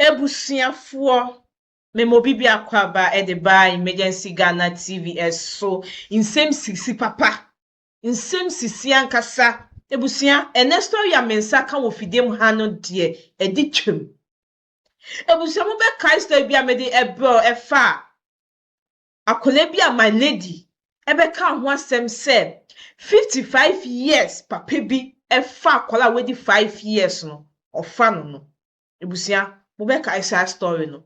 Abusuafoɔ, mema obi biako aba de baa Emergency Ghana TV so, nsɛm sisi papa, nsɛm sisi ankasa, abusua, ɛnɛ story a me nsa ka wɔ fidie mu ha no deɛ ɛde twam. Abusua mobɛkae story bi a mede ɛbrɛw ɛfa a akwadaa bi a my lady bɛkaa ho asɛm sɛ fifty five years papa bi fa akwadaa a wadi five years no ɔfa no no abusua mobɛkae saa story no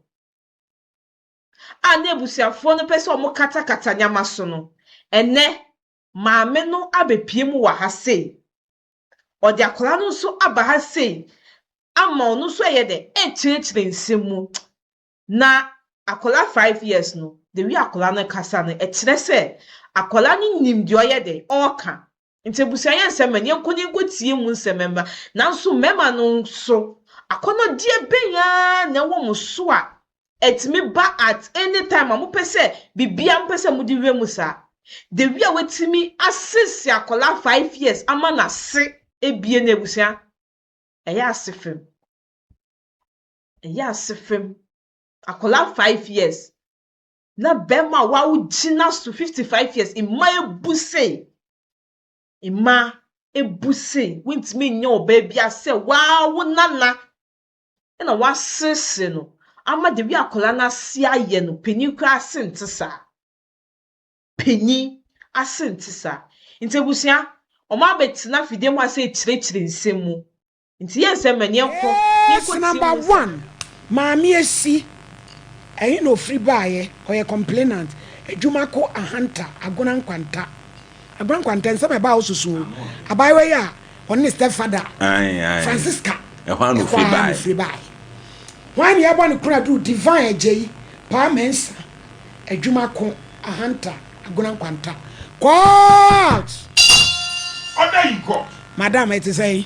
a na abusuafoɔ no pɛ sɛ wɔkatakata nneɛma so no ɛnɛ maame no abɛpie mu wɔ ha sei ɔde akwadaa no nso aba ha sei ama ɔno nso ɛyɛ dɛ ɛkyerɛkyerɛ nsɛm mu na akwadaa five years no de wi akwadaa no kasa no ɛkyerɛ sɛ akwadaa no nim deɛ ɔyɛ dɛ ɔreka nti abusua yɛ nsɛm mɛ yɛnkɔ ne nkɔ tie mu nsɛm mɛma nanso mɛma no nso akɔnɔdeɛ bɛnya na ɛwɔ mo so a ɛtumi ba at any time a mopɛ sɛ bibia mopɛ sɛ mode wura mu saa de wi a watumi asese akwadaa five years ama na se ebie na abusua ɛyɛ ase fam. Ɛyɛ ase fɛm. Akwadaa five years na barima a wawo gyina so fifty five years. Mmaa abu sei. Mmaa abu sei. Wontumi nyɛ ɔbaa bi asɛ waa wo nana na waseresere no ama the way akwadaa no ase ayɛ no panyin koraa ase nte saa. Panyin ase nte saa. Nti abusua, wɔn abɛtena fidie mu ase akyerɛkyerɛ nsɛm mu. Nti yɛ nsɛm ma neɛ nkɔ neɛ nkɔ ti mu nsɛm. Maame asi ɛhe na ofiri baeɛ ɔyɛ complainant adwuma ko ahanta agona nkwanta agona nkwanta nsɛm ɛbaa wo so so abaayewa yi a ɔne ne step father Francisca ɛhɔ a na ofiri baeɛ hwan na yɛbɔ ne kora duru divine agyei paa mɛnsa adwuma ko ahanta agona nkwanta court order in court madam ɛte sɛ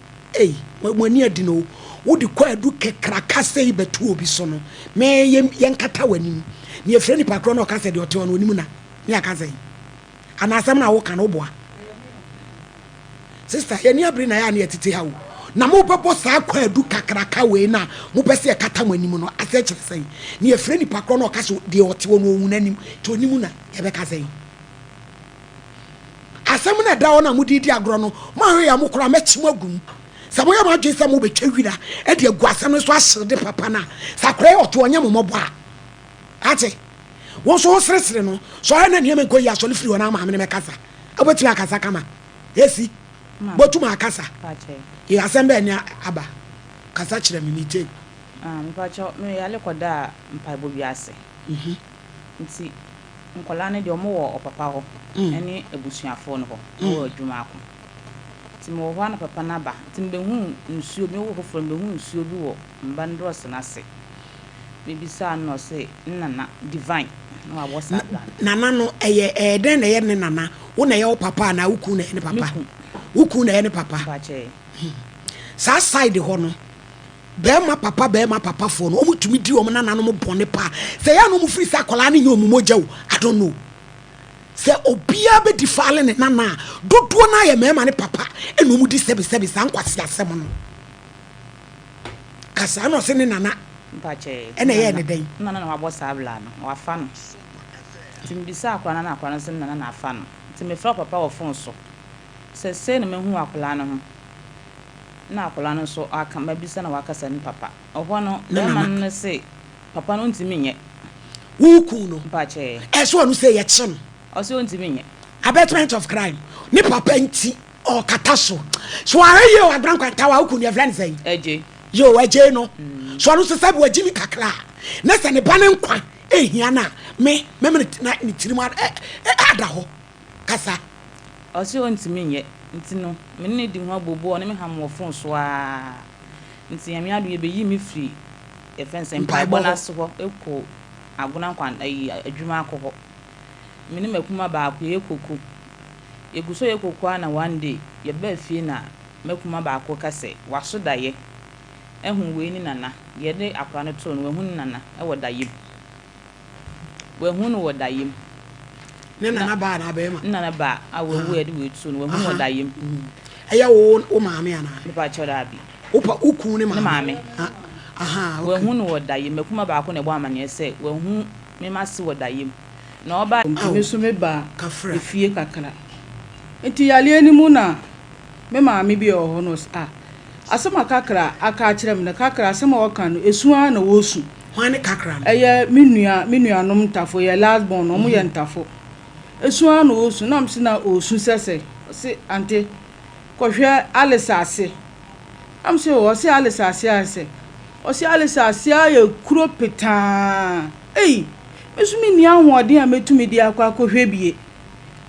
Ei, mo, mo ani adin o, wode kwaadu kakraka sei bɛto obi so no, me, yɛ, yɛnkata w'anim. Nea ɛfrɛ nipa korɔ na ɔka sɛ deɛ ɔte hɔ no ɔnim na, ne aka sɛn? Anaa asɛm no a woka no woboa? Sister, yɛn ani abere na ɛyɛ a na yɛtete ha o. Na mobɛbɔ saa kwaadu kakraka wei no a mopɛ sɛ yɛkata mo anim no ase kyerɛ sɛn? Nea ɛfrɛ nipa korɔ na ɔka sɛ deɛ ɔte hɔ no ɔhu n'anim, nti ɔnim na yɛbɛka sɛn? Asɛm no a ɛda hɔ no a mode redi agorɔ no, moanhwɛ yie a, mokora a, mɛkye mo agu mu. Sɛ moyɛ mo adwene sɛ mobɛtwa wira de agu asɛm no so ahyere de papa no a, sɛ akora yi ɔto ɔnyɛ mo mmɔbɔ a, ate? Wo nso woseresere no. Sɔre na nneɛma nkɔ yie a, sɔre firi hɔ na maame no mmɛkasa. Wobɛtumi akasa kama. Esi, bɔtu ma akasa. Ee, asɛm bɛn na aba? Kasa kyerɛ me, metie. Ah, mepakyɛw, meyare kɔdaa mpaebɔ bi ase. Nti, nkwadaa no deɛ wɔn wɔ ɔpapa hɔ ɛne abusuafoɔ no hɔ na wɔwɔ adwuma ako nti mewɔ hɔ ana papa no aba nti mebɛhu nsuo bi mewɔ hɔ foforɔ mebɛhu nsuo bi wɔ mba no drɔs no ase mebisaa no na ɔse ne nana divine na wabɔ saa bra no nana no ɛyɛ ɛyɛ dɛn na ɛyɛ ne nana wo na ɛyɛ wo papa anaa wo kun na ɛyɛ ne papa wo kun na ɛyɛ ne papa saa side hɔ no Bɛɛma papa bɛɛma papafoɔ no ɔmo tumi di ɔmo nananom bɔne paa sɛ ɛyɛ a na ɔmo firi sɛ akwadaa no nyɛ ɔmo mogya o I don't know sɛ obiara bɛ defaale ne nana a dodoɔ no ara yɛ mɛɛma ne papa ɛna ɔmo di sɛbi sɛbi saa nkwaseasɛm no ka saa na ɔse ne nana ɛna ɛyɛɛ ne dɛn. Ne nana na wabɔ saa bla no na wafa no nti mebisaa akwadaa no ɛna akwadaa no se ne nana na afa no nti mefrɛ papa wɔ phone so sɛ sei na mahu akwadaa no ho. na akwadaa no nso aka, mabisa na wakasa ne papa. Ɛhɔ no, barima no no se, Papa no ɔntumi nyɛ. Woku no. Mpakyɛɛ. Ɛso ɔno sɛ yɛkyere no. Ɔse ɔntumi nyɛ. Abatement of crime. Ne papa nti ɔkata so. So wahwɛ yie o Agbena Nkwanta wa woku no yɛfrɛ no sɛn? Agye. Yoo agye no. So ɔno nso sɛbi wagye ne kakra a, na sɛ ne ba no nkwa ɛhia no a, me, mɛma ne tirim ada hɔ. kasa. Ɔse ɔntumi nyɛ nti no me ne no di ho abooboo ɔne me ham wɔ fon so aa nti Nyame adom yɛbɛyi me firi yɛfrɛ no sɛ mpaebɔ no ase hɔ ɛkɔ Agona nkwan ayi adwuma akɔ hɔ me ne makuma baako yɛyɛ koko yɛgu so yɛ koko aa na one day yɛbaa fie na makuma baako ka sɛ waso dayɛ ahu wei ne nana deɛ ɛde akora no too no wahu ne nana ɛwɔ dayɛ mu. Wɔahu no wɔ daeɛm. Ne nanabaa anaa bɛrima? Ne nanabaa a wawu a yɛde wɔatuo no, wɔahu no wɔ daeɛm. Ɛyɛ wo wo maame anaa? Me pa kyɛw daabi. Wo pa wo kunu ne maame? Ne maame. Ah, aha, okay. Wɔahu no wɔ daeɛm. M'akuma baako na ɛbɔ amaneɛ sɛ wɔahu me mase wɔ daeɛm. Na ɔba. Nti me nso mebaa efie kakra. Nti yareɛ no mu na me maame bi a ɔwɔ hɔ no ɔse ah, asɛm a Kakra aka akyerɛ me no, Kakra asɛm a ɔka no, ɛsu ara na wɔresu. Hwan ne kakra no? Ɛyɛ me nua, me nuanom ntafo, yɛ last born, ɔmo yɛ ntafo. Esu ara na ɔɔsu, na mese na ɔɔsu sɛsɛɛ, ɔse ante, kɔhwɛ Alisa ase, na mese oo, ɔse Alisa ase ara sɛ, ɔse Alisa ase ara yɛ kuro petaa, ei, me nso menni ahoɔden a mɛtumi de akɔ akɔhwɛ bie,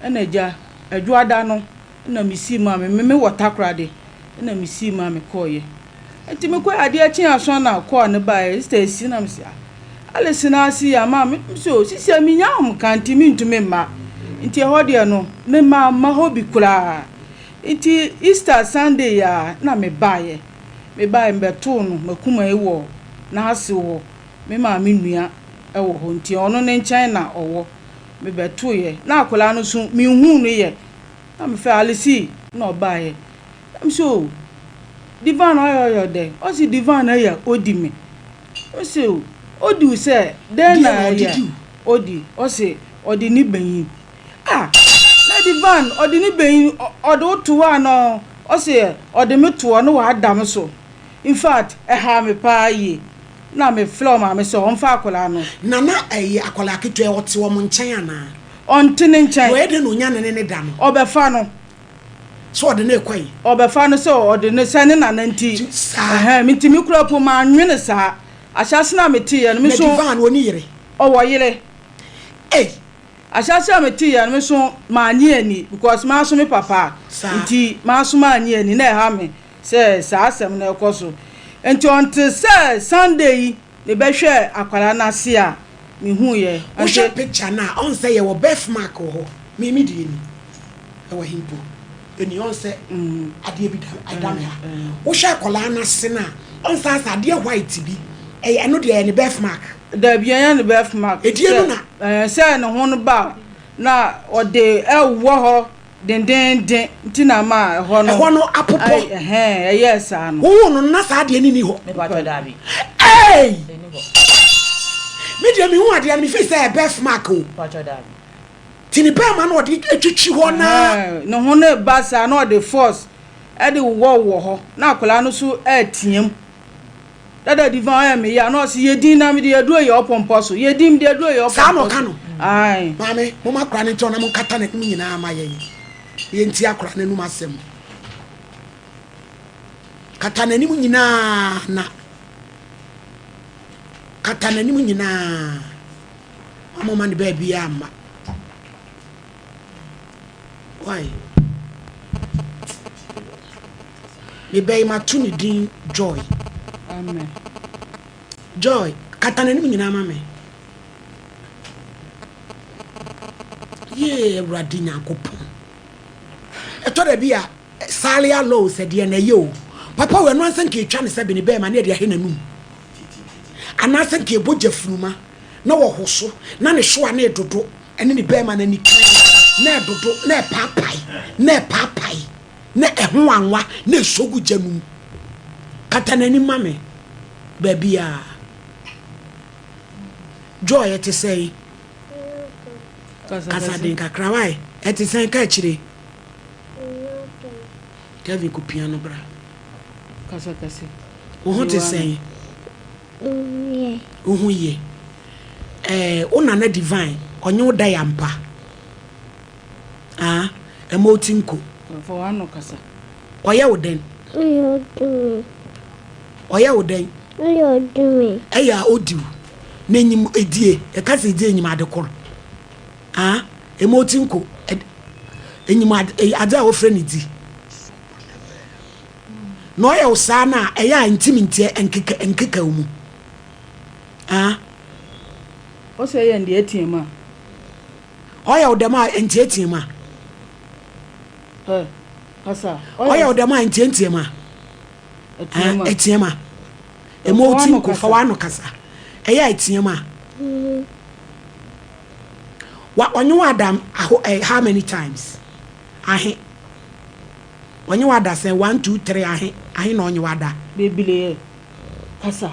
ɛna gya, Adwoada no, Nna misii maa me, me mewɔ takoradi, nna misii maa me kɔɔeɛ. Nti mekɔe, adeɛ kyee aso ana ɔkɔɔ a ne baeɛ, Easter asi na mese ah, Alice na asi yi ama me, mese oh, sisia menya home ka nti mentumi mma, nti ɛhɔ deɛ no mema mma hɔ bi koraa. Nti Easter Sunday yi ara na mebaeɛ, mebaeɛ mebɛtoo no m'akuma yi wɔ n'asew hɔ, me maame nua wɔ hɔ nti ɔno ne nkyɛn na ɔwɔ, mebɛtoeɛ na akwadaa no nso menhuu no yɛ, Na mefrɛɛ Alice na ɔbaeɛ. Na mese o, Divan ɔyɛ ɔyɛ dɛ? Ɔse Divan ɛyɛ odi me. Na mese o, odi wo sɛ dɛn na ɛyɛ odi? Ɔse ɔde ne banyin. Ah! Na Divan ɔde ne banyin ɔde wo to hɔ anaa o? Ɔse ɔde me to hɔ na wada me so. In fact, ɛhaa me paa yie. Na mefrɛɛ ɔmaame sɛ ɔmfa akwadaa no. Na na ɛyɛ akwadaa ketewa a ɔte wɔn nkyɛn anaa? Ɔnte ne nkyɛn. Wɔyɛ dɛn na ɔnya no ne ne da no? Ɔbɛfa no. Sɛ ɔde no rekɔe. Ɔbɛfa no sɛ ɔde no, sɛ ne nana nti. Saa. Ɛhɛn, me nti me kura mpo mannwene saa. Ahyɛase no a meteeɛ no, me nso. Na Divan, ɔnni yere? Ɔwɔ yere. Ei! Ahyɛase a meteeɛ no, me nso mannye anni, because manso me papa. Saa. Nti manso mannye anni, na ɛha me sɛ saa asɛm no rekɔ so. Nti ɔnte sɛ Sunday yi. Me bɛ hwɛ akwara no ase a me hu yɛ ante. Wo hwɛ picture no a ɔn sɛ yɛ wɔ birth mark wɔ hɔ me me deɛ ni ɛwɔ he mpo ɛni ɔn sɛ adeɛ bi ɛda me ha wo hwɛ akwaraa no ase no a ɔn sɛ asɛ adeɛ white bi ɛyɛ ɛno deɛ ɛyɛ ne birth mark. Dabi ɛnyɛ ne birth mark ɛdeɛ no na. Sɛ ɛɛ sɛ ne ho no ba a na ɔde ɛwɔ hɔ dendeenden nti na ama ɛhɔ no. Ɛhɔ no apopɔ. Ai, ɛhɛn, ɛyɛɛ saa no. Wohuu no no na saa adeɛ no nni hɔ. Mepaatwɔ, daabi. Ei! Ɛnni hɔ. Me deɛ mehuu adeɛ no, mefii sɛ ɛyɛ birth mark o. Mepaatwɔ, daabi. Nti ne bɛrima no ɔde twitwi hɔ na. Ɛhɛn, ne ho no reba saa na ɔde force de wowɔ wowɔ hɔ na akwadaa no nso reteam. Dada di fa ɔyɛ me ya na ɔsi yɛ din na mi de yɛ duro yɛ ɔpɔmpɔ so yɛ din mi de yɛ duro yɛ ɔpɔmpɔ so. Saa na ɔka no. Ayi. Maame mo ma akora ne nkyɛn na mo nkata n'anim nyinaa ma yɛn yɛn ti akora n'anum asɛm. Kata n'anim nyinaa na kata n'anim nyinaa ma mo ma ne baabi a ma. Why? Me ba yi mato ne din Joy. Amen. Joy, kata n'anim nyinaa ma me. Yee, Awurade Nyankopɔn. Ɛtɔ da bi a, Salia Low sɛ deɛ na ɛyɛ o. Papa wɔ ɛno ansa nka etwa ne sɛ bene bɛrima ne ɛde ahɛ n'anum. Anaasɛ nka ɛbɔ gya funuma na wɔho so na ne hyewa ne ɛdodo ɛne ne bɛrima no ani kan na ɛdodo na ɛpaapae na ɛpaapae. na ɛho anwa na ɛsɔ gu gya no mu. Kata n'anim ma me baabiara. Joy, ɛte sɛn? Kasa den kakra wae. Ɛte sɛn ka akyire? Kevin ko pia no bra. Kasa kɛse. Wo ho te sɛn? Wo ho ye. Ɛɛ, wo nana divine, ɔnye wo da yɛ ampa. Aa ɛma ɔti nko. Fa w'ano kasa. Ɔyɛ wo dɛn? Ɔyɛ ɔdi me. Ɔyɛ wo dɛn? Ɔyɛ ɔdi me. Ɛyɛ a ɔdi wo. N'enyim edie, yɛka sɛ edzi enyim ade kor. Aa ɛma ɔti nko. Enyim ade, adze a wɔfrɛ no dzi. Na ɔyɛ wo saa no a, ɛyɛ a ntsim ntseɛ nkeka nkeka wo mu. Aa. Ɔsɛ yɛ ndeɛ ɛteam a. Ɔyɛ wo dɛm a, ntseatsea mu a. Hɛ, asa. Ɔyɛ wo dɛm a, ntseatsea mu a. Atsia mu a. Atsia mu a. Ema otsi nko, fa w'ano kasa. Ɛyɛ a, atsia mu a. Wa, ɔnye wo ada aho, eh, how many times? Ahe. Ɔnye wo ada sɛn? One, two, three, ahe. Ahe na ɔnye wo ada? Beberee. Kasa.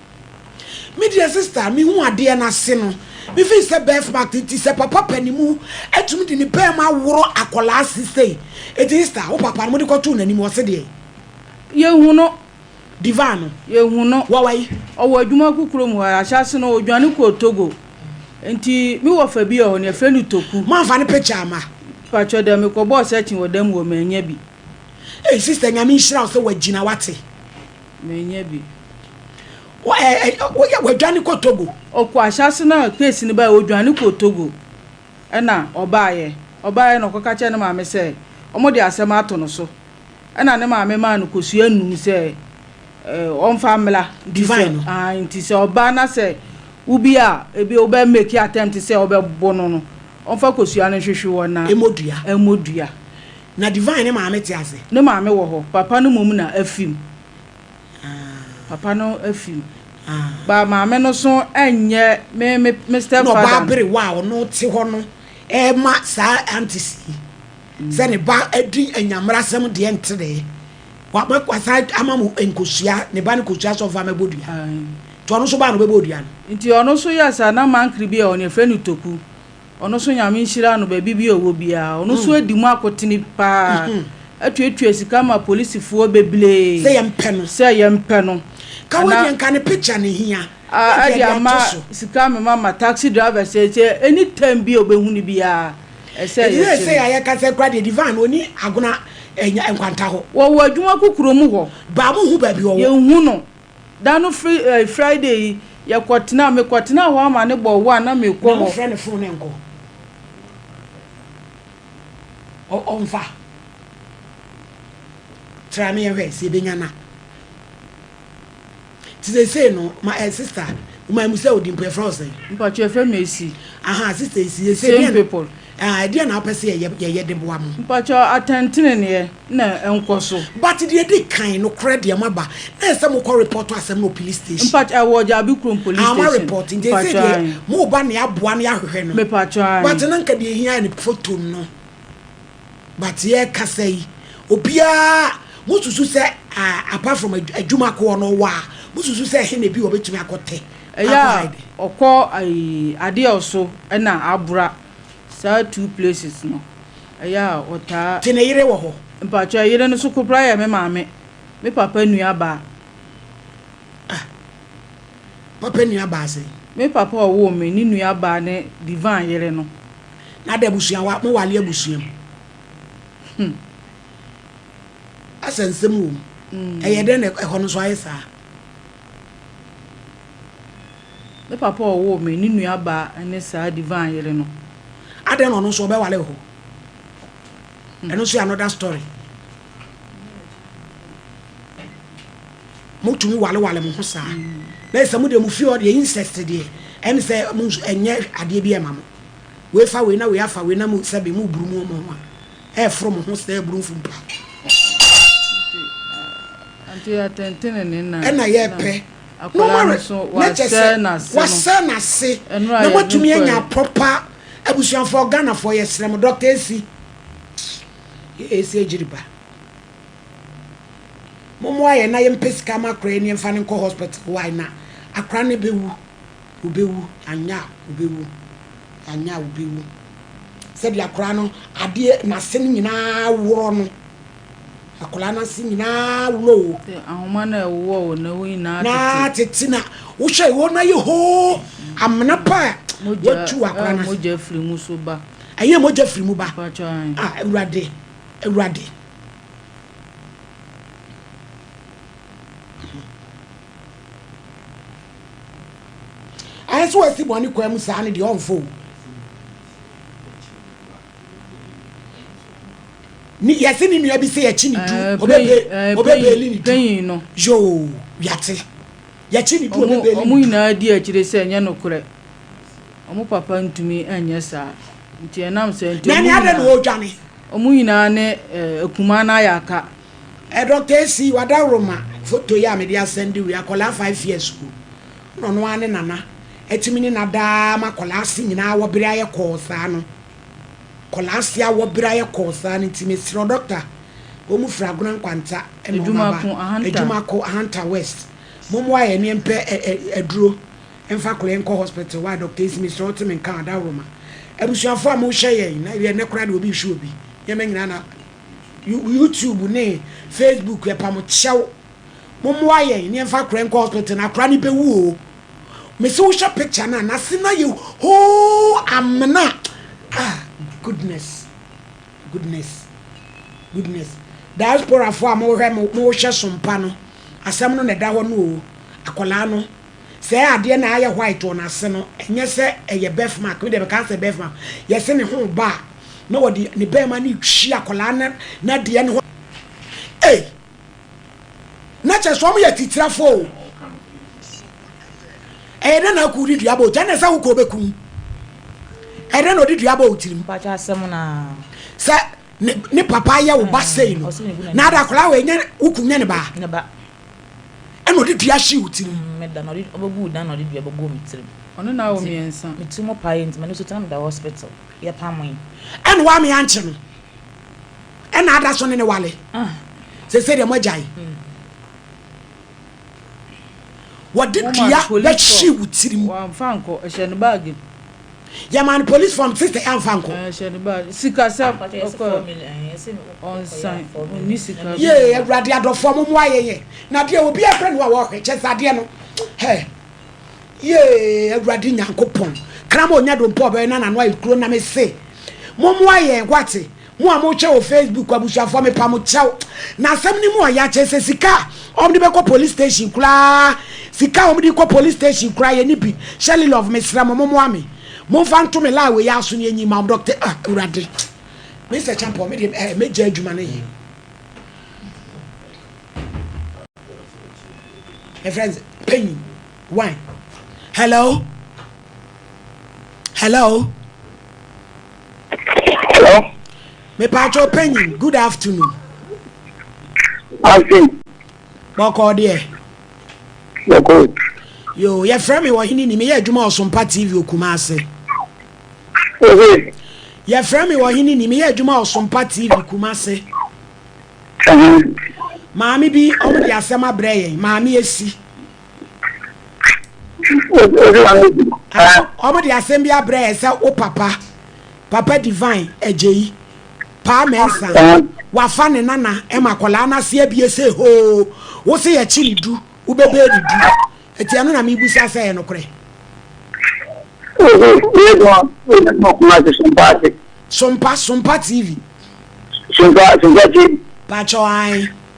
Me deɛ sister me hu adeɛ no ase no me feel sɛ birth mark nti sɛ papa panimu atumi de ne pɛɛm aworo akɔlaa ase sei eti sister wo papa no mo de kɔtoo n'anim ɔse deɛ Yɛhu no. Diva no Yɛhu no. wɔ wai? Ɔwɔ adwuma ku kurom hɔ ara. Ahyɛase no, ɔdwane kɔɔ Togo. Enti me wɔfa bi wɔ hɔ no, yɛfrɛ no Toku. Moamfa ne picture amma? Mpakyɛ da, mekɔbɔɔ searching wɔ da mu hɔ, mannya bi. Ei sister Nyame nhyira wo sɛ wagyina wate. Menya bi. Woyɛ wadwane kɔ Togo? Ɔkɔ ahyɛase no a case no bae ɔdwane kɔɔ Togo ɛna ɔbaeɛ. Ɔbaeɛ na ɔkɔka kyerɛɛ ne maame sɛ wɔde asɛm ato no so ɛna ne maame maa no kosua nnum sɛ ɔmfa mmra. Divine no? Ae nti sɛ ɔba na sɛ wobi a ebi wobɛ make attempt sɛ wobɛbo no no ɔmfa kosua no nhwehwe wɔ na. Mmodua. Mmodua. Na Divine ne maame te ase. Ne maame wɔ hɔ. Papa no mmom na afi mu. Papa no afi mu. But maame no so nyɛ me me me stepfather. Na ɔbaa bere wa a ɔno te hɔ no ɛma saa aunties yi sɛ ne ba adi anyammerasɛm deɛ nteree. Waba wasan ama mo nkosua ne ba no kosua sɛ ɔmfa mmɛbɔ dua. Nti ɔno nso baa na ɔbɛbɔɔ dua no. Nti ɔno nso yɛɛ saa na mankere bi a wɔn yɛfrɛ no toku. Ɔno so Nyame nhyira no baabi bi a ɔwɔ biara ɔno so adi mu akotene paa atuatua sika ma polisifoɔ beblee sɛ yɛmpɛ no sɛ yɛmpɛ no ka wei deɛ nka ne picture ne hia a ɛde ama sika me mama taxi driver sɛ sɛ any time bi a ɔbɛhu no biara ɛsɛ yɛkyɛ no sɛ yɛayɛ ka sɛ kora deɛ divine ɔni agona nkwanta hɔ wɔwɔ adwuma kokuro mu hɔ baa mo hu baabi ɔwɔ yɛnhu no Da no fri ɛɛ Friday yi yɛ kɔ tenaa me kɔ tenaa hɔ ama ne bɔ one na me kɔ hɔ. Na wo frɛ ne fon ne nkɔ ɔ ɔ nfa tra ne yɛ hwɛ sɛ yɛ bɛ nya na ti sesei no ma ɛɛ sister wo ma mu sɛ odi mpo yɛ frɛ wo sɛn. Mpatsɔ yɛ fɛ me esi. Ahaa sister esi yɛ sɛ deɛn. Same people. Ah, ɛdeɛn na wopɛ sɛ yɛyɛ yɛyɛ de boa mo? Mpakyɛ atɛnteneneɛ na ɛnkɔ so. But deɛ ɛdi kan, nokorɛ deɛ moaba, na ɛsɛ sɛ mokɔ report aasɛm no wɔ police station. Mpakyɛ ɛwɔ Gyabekurom police station. Ah, moa report, nti ɛsɛ sɛ deɛ moba na yɛaboa na yɛahwehwɛ no. Mepakyɛ aane. But na nka deɛ ɛhia yɛ no photo no. But yɛrekasa yi, obiara, mosusu sɛ ah, apart from adwuma ko hɔ no ɔwɔ a, mosusu sɛ ɛhe na ebi wɔ a ɔbɛtumi akɔtɛ? Ɛyɛ a ɔkɔ adeɛ a ɔso na abora saa two places no ɛyɛ a ɔtaa. Gye ne yere wɔ hɔ. Mpakyɛ ɛyere no so kopra yɛ me maame me papa nua baa. Ah papa nua baa sɛn. Me papa a ɔwoo me ne nua baa ne Divan yere no. Na de abusua wa mo wale abusua mu. Hmm. Asɛ nsɛm wɔ mu. Ɛyɛ dɛn na ɛhɔ no nso ayɛ saa. Me papa a ɔwoo me, ne nuabaa ne saa Devine yere no. Adɛn na ɔno nso ɔbɛware wɔ hɔ? Ɛno nso yɛ another story. Motumi walewale mo ho saa. Na sɛ mo deɛ mo fie hɔ deɛ incest deɛ ɛne sɛ mo nso ɛnyɛ adeɛ bi ɛma mo. Wei fa wei na wei afa wei na mo sɛbe mo buru mo ho a. Ɛreforo mo ho sɛ aburo mfumpa. Ɛna yɛpɛ no ware na kyɛ sɛ wasɛ n'ase na moatumi anya proper abusuafoɔ Ghanafoɔ yɛsrɛ mo Doctor Esi yɛ Esi Agyiriba mommoa yɛn na yɛmpɛ sika ma akora yi ne yɛmfa no nkɔ hospital why na akora no bɛwu. Wobewu, anyɛ a wobewu, anyɛ a wobewu. Sɛdeɛ akwadaa no adeɛ n'ase no nyinaa worɔ no, akwadaa no ase nyinaa worɔ o. Sɛ ahoma no a ɛwowɔ wo no, wo nyinaa tete. Nyinaa tete na wohwɛ wɔn no ayɛ hoo, amena pa a watu akwadaa no ase. Mogya firi mu so ba. Ɛyɛ mogya firi mu ba. Ah, Awurade, Awurade. Ayɛ sɛ wasi bɔne kwan mu saa no deɛ ɔmfa o. Ni yɛse ne nua bi sɛ yɛkye ne du ɔbɛbe ɔbɛbɛli ne du yoo wiate yɛkye ne du ɔbɛbɛli ne du. Ɔmo nyinaa di akyire sɛ ɛnyɛ nokorɛ ɔmo papa ntumi nyɛ saa nti ɛnam saa nti ɔmo nyinaa ɔmo nyinaa ne akumaa no ayɛ aka. Eh Doctor Essie w'adaworoma photo yi a mede asɛnde wo yi akwadaa five years school na ɔno ara ne nana atumi ne na daa ma akwadaa se nyinaa awɔ bere ayɛ kɔɔ saa no akwadaa se awɔ bere ayɛ kɔɔ saa no nti mesrɛ wo Doctor wɔn mu firi Agona Nkwanta na wɔn aba Adwumako Ahanta West mommoa yɛn ne mpɛ aduro mfa akwadaa yi nkɔ hospital why Doctor Essie mesrɛ wo te me nka adaworoma abusuafoɔ a mohwɛ yɛn na ɛyɛ nnɛ koraa deɛ obi rehwɛ obi nneɛma nyinaa na YouTube ne Facebook yɛpa mo kyɛw mommoa yɛn ne yɛmfa akora nkɔ hospital na akora no bɛwu o mese wohwɛ picture no a nase no ayɛ hoo amena ah goodness goodness goodness diasporafoɔ a mohwɛ mo mohwɛ sompa no asɛm no na ɛda hɔ no o akwadaa no Sɛ adeɛ na ayɛ white wɔ n'ase no, ɛnyɛ sɛ ɛyɛ birth mark. Me deɛ mɛka no sɛ birth mark. Yɛse ne ho reba a, na wɔde ne barima no retwi akwadaa no n'adeɛ no ho. Ei! Na kyerɛ sɛ wɔyɛ atitirafoɔ o. Ɛyɛ dɛn na akuo de dua abɔ wo ti? Ɛnna sɛ wo kuo bɛku wo. Ɛyɛ dɛn na ɔde dua abɔ wo tirim? Mpakyɛ asɛm no a. Sɛ ne ne papa yɛ wo ba sei no, na ada akwadaa wei nyɛ wo kunu nyɛ ne ba? Ne ba. Ɛna ɔde dua hyee wo tirim. Mm, meda na ɔde ɔbɛguu dan na ɔde dua bɛguu me tirim. Ɔne no awo mmiɛnsa. Me ti mu paeɛ nti m'ani so tena meda hospital. Yɛpamoe. Ɛna wame ankye no. Ɛna ada so ne ne wale. Ah. Sese deɛ moagyae. Mm. Wɔde dua bɛhyee wo tirim. Wɔamfa nkɔ, ɛhyɛ ne baage mu. Yɛmaa no police form sister yi amfa ankɔ. Sikasɛm ɔkɔ ɔnsan ɔnni sika. Yee awurade adɔfoɔ mo mmoa yɛn yɛ na adeɛ obi ɛpɛ no a wɔhwɛ kyɛ sɛ adeɛ no hɛ yee awurade nyankopɔn kra ma onya dompɔ ɔbɛyɛ na nano ayɛ kuro na me se mo mmoa yɛn wate. Mo a motwe wɔ Facebook abusuafoɔ mepa mo kyɛw na asɛm no mu a yɛakyɛ sɛ sika a wɔn de bɛkɔ police station koraa sika a wɔn de kɔ police station koraa yɛ ne bi Shirley love mesrɛ mo mo moa me mo nfa nto me lie wɔ yɛ aso ne enyi ma doctor ah awurade Mr Champon me de eh me gya adwuma no yɛ me friends panyin. Wai. Hello? Hello? Hello? Mepatwo panyin, good afternoon. Ase. Bɔkɔɔ deɛ. Bɔkɔɔ. Yo, yɛfrɛ me wɔ hene ni, meyɛ adwuma Ɔsompa TV okuma ase. Ohe. Yɛfrɛ me wɔ hene ni, meyɛ adwuma Ɔsompa TV kuma ase. Maame bi, ɔmo de asɛm abrɛ yɛn, maame esi. wɔn de asɛm bi abrɛ yɛ sɛ wo papa papa divine agyeyi paa mɛnsa wafa ne nana ɛma akwadaa no ase abie sɛ hoo wo se yɛkye ne du wobɛbɛɛ ne du ɛti ɛno na mebusa sɛ yɛ nokorɛ sompa sompa tv sompa sompa tv pakyɛ ɔan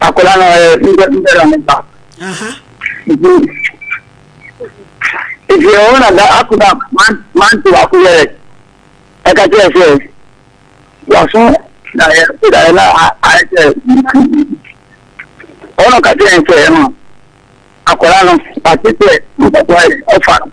akwadaa no ɔyɛ nipa bi dara ne ba nti nti ɛhɔ na da akoma mante baako yɛ ɛka kyerɛ sɛ waso daeɛ so daeɛ na ayɛ sɛ ɛhɔ na ɔka kyerɛ sɛ ɛma akwadaa no wate sɛ mpaboa yɛ ɔfa no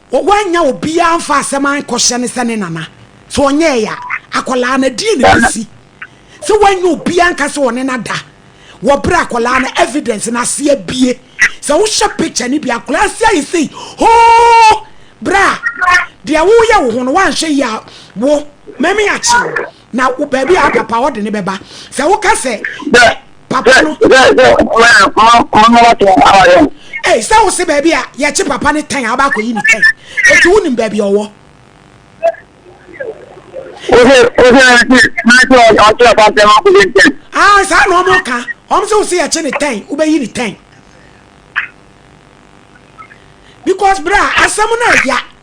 Wɔ wannya obiaa mfa asɛm ankɔhyɛ no sɛ ne nana sɛ ɔnyɛɛe a akwadaa no ɛdeɛn na ɛbɛsi? Sɛ wannya obiaa anka sɛ ɔne no ada wɔ berɛ a akwadaa no evidence no ase abue sɛ wohwɛ picture no bi a akwadaa ase ayɛ sei hoo berɛ a deɛ woyɛ wo ho no woanhwɛ yie a wo mɛmi akye wo na wo baabi a papa hɔ de ne bɛba sɛ woka sɛ papa no ei sɛ wo se baabi a yɛkye papa no tɛn a wobɛ akɔyi ne tɛn ɛti wonim baabi a ɔwɔ ah saa na ɔmo ka ɔmo sɛ wo se yɛkye ne tɛn wobɛyi ne tɛn because bra asɛm no ɛya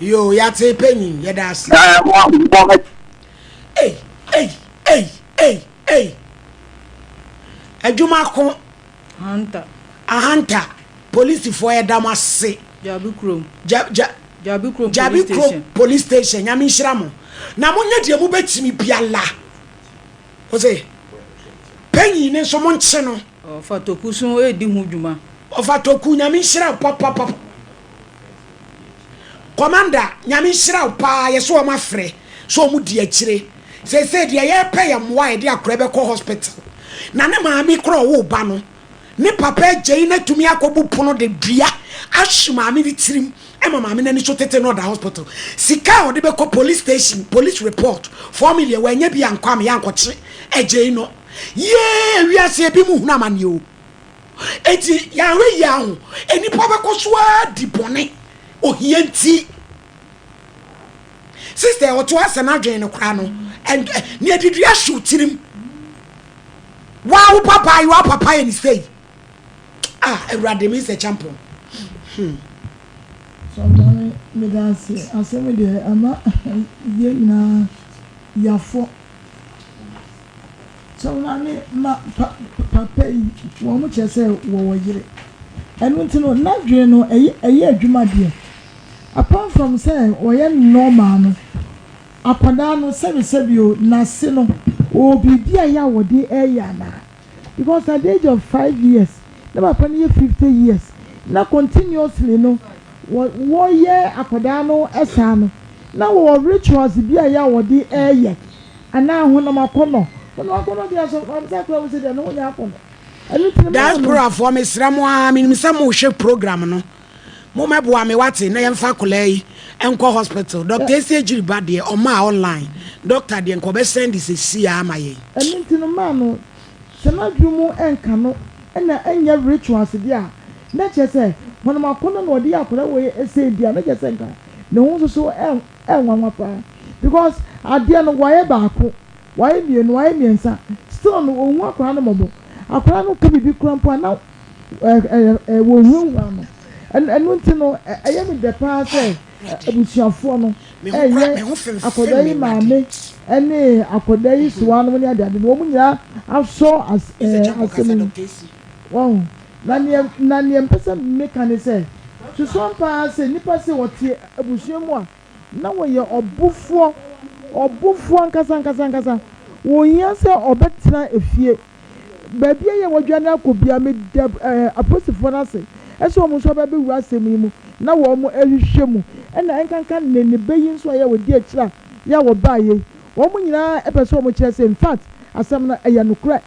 Yoo, yɛate panyin, yɛda ase. Ɛɛ, mo abobɔ ha. Ei, ei, ei, ei, ei. Adwuma ko. Hanta. Ahanta, polisifoɔ yɛda mo ase. Gyabi kurom. Ja, ja. Gyabi kurom police station. Gyabi kurom police station, nyame nhyira mo. Na monyɛ deɛ mobɛtumi biara. Ɔse, Panyin no nso monkye no. Ɔfa toku so redi ho dwuma. Ɔfa toku, Nyame nhyira wo papapap. Kɔmanda, Nyame nhyira wo paa, yɛse wɔn afrɛ sɛ wɔn di akyire. Seesei deɛ yɛrepɛ yɛ mmoa a yɛde akora bɛkɔ hospital. Na ne maame kora ɔwoo ba no, ne papa agyei no atumi akɔbu pono de dua ahwe maame no tirim ma maame no ani so tete na ɔda hospital. Sika a ɔde bɛkɔ police station, police report, four million, wannya bi ankɔ a meyɛ ankɔkye agyei no. Yee, wiase ebi mu hunu amanneɛ o. Enti yɛanhwɛ yie aho, nnipa bɛkɔ so ara di bɔne ohia nti. Sister a ɔtoa sɛ n'adwene no koraa no and nea didi ahyɛ wo tirim. Waa wo papa yi wa papa yɛ ne sei. Ah Awurade me nsɛ kyampɔn. Hmm. Sɔntane meda ase asɛm deɛ ama yɛn nyinaa yafɔ. Sɛ wo maame ma pa papa yi wɔn kyerɛ sɛ wɔwɔ yere. Ɛno nti no n'adwene no ɛyɛ ɛyɛ adwuma deɛ. Apart from sɛ ɔyɛ normal no, akwadaa no sɛbesɛbe o n'ase no ɔwɔ biribi a ɛyɛ a wɔde ɛyɛ anaa? Because at the age of five years na papa no yɛ fifty years na continuously no wɔ wɔyɛ akwadaa no saa no na wɔwɔ rituals bi a ɛyɛ a wɔde ɛyɛ anaa honam akɔnnɔ. Honam akɔnnɔ deɛ asɔfo a wɔn nsa kura wɔn sɛ deɛ ne ho nyɛ akɔnnɔ. Ɛno nti no mma wɔn. Diasporafoɔ, mesrɛ mo ara, menim sɛ mohwɛ program no, mommɛboa me, wate, na yɛmfa akwadaa yi nkɔ hospital. Dɔkta Esi Agyiri ba deɛ, ɔmaa online dɔkta deɛ, nka ɔbɛsɛnde seesei ara ama yɛn. Ɛno nti no mma no, sɛ n'adwene mu nka no na ɛnyɛ rituals deɛ a, na kyerɛ sɛ honam akɔnnɔ na wɔde yɛ akwadaa wei sei deɛ a, na kyerɛ sɛ nka ne ho nso so Ɛyɛ nwanwa paa because adeɛ no wayɛ baako, wayɛ mmienu, wayɛ mmiɛnsa still no ɔnhu akwadaa no mmɔbɔ. Akwadaa no ka biribi koraa mpo a na ɛɛ wɔhurahura no. Ɛno nti no ɛyɛ me dɛ paa sɛ abusuafoɔ no ɛɛyɛ akwadaa yi maame ɛne akwadaa yi sewaa nom ne adeade no wɔn nyinaa asɔ as ɛɛ asɛm yi mu. Wahu? Na nea, na nea mepɛ sɛ meka ne sɛ, susuan pa ara sɛ nnipa sei ɔte abusua mu a na wɔyɛ ɔbofoɔ, ɔbofoɔ ankasa ankasa ankasa. Ɔnhia sɛ ɔbɛtena efie. Baabi a yɛ a wɔadwane akɔ biara, meda ɛɛ apolisifoɔ no ase sɛ wɔn nso aba abɛwura asɛm yi mu na wɔrehwehwɛ mu. Ɛna ɛnkanka ne ne ba yi nso a yɛ a ɔdi akyire a yɛ a ɔbaeɛ yi. Wɔn nyinaa pɛ sɛ wɔkyerɛ sɛ, in fact, asɛm no ɛyɛ nokorɛ.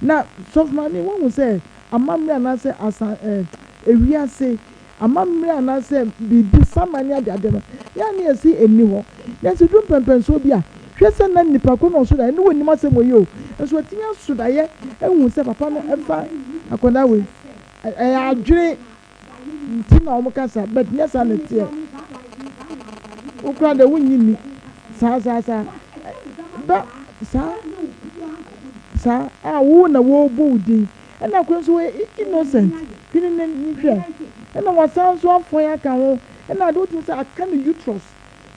Na sɔfo maame, woahu sɛ amammerɛ anaasɛ asa eh, wiase amammerɛ anaasɛ biribi saman ne adeade no, yɛ a na yɛse ɛnni hɔ. Nanso ɛduru mpɛnpɛnsoɔ bi a, hwɛ sɛ na nnipa korɔ na ɔso daeɛ no, wɔnnim asɛm wei o, nso wɔatumi aso daeɛ ahu sɛ papa no mfa akwadaa wei. Ɛyɛ adwene Nti na wɔn kasa but nyɛ saa na ɛteɛ wo koraa deɛ wo nnye nni saa saa saa da saa saa a wo na wo bɔ wo din ɛna koro nso wɔyɛ innocent hwene ne hwɛ ɛna wasan nso afɔn aka ho ɛna ade wotumi sɛ aka ne uterus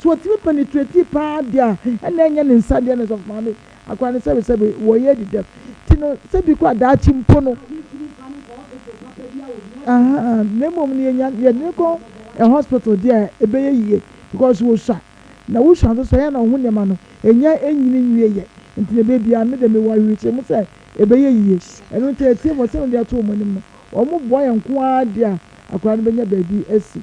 So ɔtumi pɛ ne tretie paa deɛ a, ɛna ɛnyɛ ne nsa deɛ na Sɔfo Maame akora no sɛbesɛbe wɔ yɛ adi dɛm nti no sɛ bi kɔ a daakye mpo no ahaa na mmom no yɛnya yɛdene kɔ ɛ hospital deɛ a ɛbɛyɛ yie because wo sua na wo sua nso so ɛyɛ na wo ho nneɛma no ɛnya ɛnyini nwie yɛ nti no ɛbɛyɛ biara me deɛ me wɔ awerekyerɛ mu sɛ ɛbɛyɛ yie ɛno nti atiefoɔ sɛ me deɛ to wɔn anim no wɔn boa yɛn nko ara deɛ a akora no bɛnya baabi asi.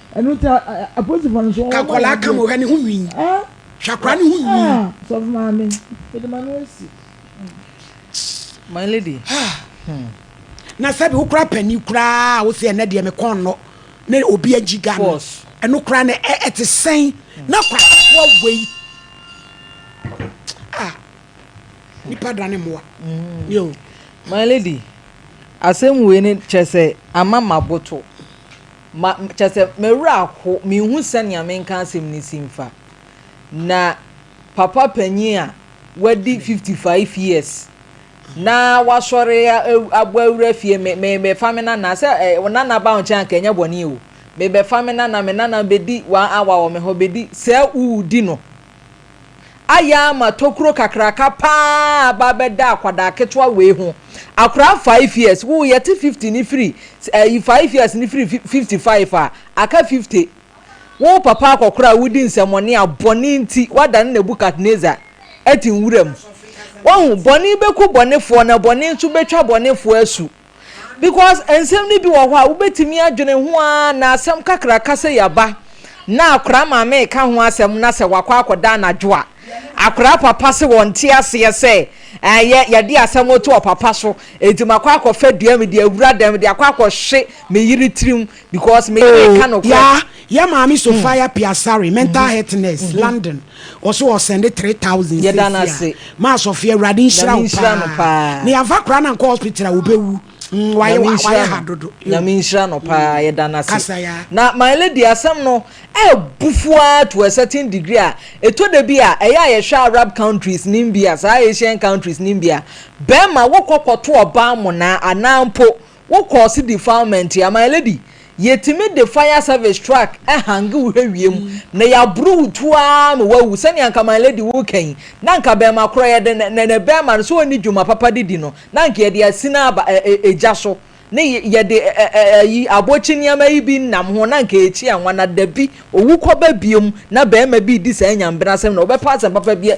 ɛno nti apolisifoɔ no so wɔn ka akwadaa ka mu hwɛ ne ho nwi hwɛ akwadaa ne ho nwi. sɔfo maame mede ma no asi. my lady. Hmm. na sɛbi wo kora panyin koraa wo sɛ ɛnɛ deɛ me kɔn no na obi agyi ga no ɛno koraa no ɛte sɛn na kwafoɔ wei ah nipa da ne mmoa hmm. yo my lady asɛm wei ne kyerɛ sɛ ama maboto Ma, kyerɛ sɛ, m'awura ho, menhu sɛnea menka asɛm no si mfa. Na papa panyin a wadi fifty five years na wasɔre abɔ awura fie, me, mebɛfa me nana, sɛ ɛ, eh, nana ba wo nkyɛn anka ɛnyɛ bɔne o. Mebɛfa me nana, me nana bɛdi one hour wɔ me hɔ, bɛdi, sɛ wudi no, ayɛ ama tokuro kakraka paa aba abɛda akwadaa ketewa wei ho akwadaa five years wo yɛte fifty ne firi ɛyi five years ne firi fifty five a aka fifty wo papa akɔkora a wodi nsɛmɔne a bɔne nti wada ne nebukadnezar ɛte nwura mu wɔn bɔne bɛku bɔnefoɔ na bɔne nso bɛtwa bɔnefoɔ asu. Because nsɛm no bi wɔ hɔ a wobɛtumi adwene ho ara na asɛm kakraka sɛ yaba na akwadaa maame reka ho asɛm na sɛ wakɔ akɔda anadwo a, akwadaa papa se wɔnte aseɛ sɛ ɛyɛ yɛde asɛm to ɔpapa so, enti makɔ akɔfa dua mede awura dɛm de akɔ akɔhye me yere tirim because me yere ka nokorɛ. Yaa yɛ maame Sophia Piasare mental health nurse London ɔso wɔ sɛnde three thousand seesia maa Sophia awurade nhyira wo paa ne yɛnfa koraa na nkɔ hospital a ɔbɛwu mm wayɛ wayɛ ha dodo Nyame nhyira no paa mm, yɛda no ase kasa yaa. Na my lady asɛm no ɛɛbu fuaa to a certain degree a ɛtɔ da bi a ɛyɛ a yɛhwɛ Arab countries nom bi a saa Asian countries nom bi a bɛɛma wokɔ kɔto ɔbaa monaa anaa mpo Wo course defilement a my lady yɛtumi de fire service truck hange wo hwɛ wiem na yɛaboro wo tuo ara ma woawu sɛnea anka my lady woreka yi na anka bɛɛma korɔ yɛde nɛnɛ bɛɛma no sɛ ɔnni dwuma papa de di no na anka yɛde asina aba gya so ne yɛde ayi abɔkye nneɛma yi bi nam ho na anka yɛkyi anwa na dabi owu kɔba biom na bɛɛma bi redi saa nyambena asɛm na wobɛpɛ asɛm papa bi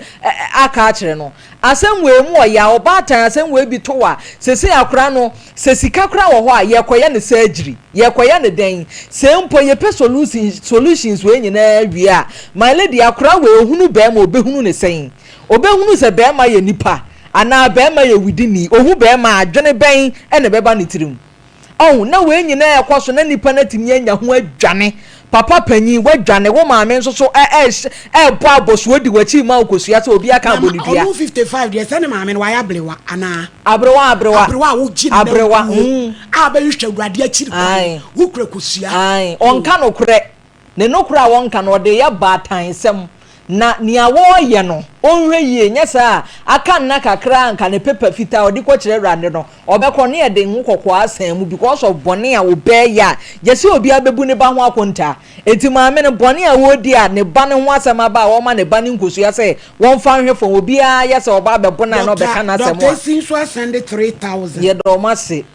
aka akyerɛ no Asɛmwee mu ɔyɛ a ɔbaatan asɛmwee bi to a, seesei akora no, sɛ sika koraa wɔ hɔ a, yɛrekɔyɛ no surgery. Yɛrekɔyɛ no dɛn? Sɛ mpo yɛpɛ solutions solutions wei nyinaa wie a, my lady, akora wei ɔhunu barima ɔbɛhunu no sɛn? Ɔbɛhunu sɛ barima yɛ nipa anaa barima yɛ widini? Ɔhu barima a, adwene bɛn na ɛbɛba ne tirim? Ɔho, na wei nyinaa ɛkɔ so na nipa no atumi anya ho adwane. Papa panyin, woadwane, wo maame nso so ɛrebɔ abɔso odi w'akyi rema wo kosua sɛ obi aka abɔ no dua. Ɔho 55 deɛ, sɛ ne maame no, wayɛ abrewa anaa? Abrewa, abrewa. Abrewa a wogye ne nan gu hɔ a bɛhwehwɛ Awurade akyiri kwan, wokura kosua. Aane, ɔnka nokorɛ. Ne nokorɛ a wɔnka no, ɔde yɛ baatansɛm, na nea wɔreyɛ no, ɔnhwɛ yie, nyɛ saa a, aka nna kakra a anka ne paper fitaa a ɔde kɔkyerɛ Awurade no, ɔbɛkɔ ne ɛde ngo kɔkɔɔ asan mu because of bɔne a ɔbɛɛyɛ a, gyɛ sɛ obiara bɛbu ne ba ho akontaa. Enti maame no, bɔne a ɔredi a ne ba no ho asɛm aba a, ɔrema ne ba no nkosua sɛ wɔmfa nhwɛ fam, obiara yɛ sɛ ɔba abɛbo no a na ɔbɛka n'asɛm a. Dɔkta, dɔkta si nso asɛnde three thousand. Yɛda wɔn ase.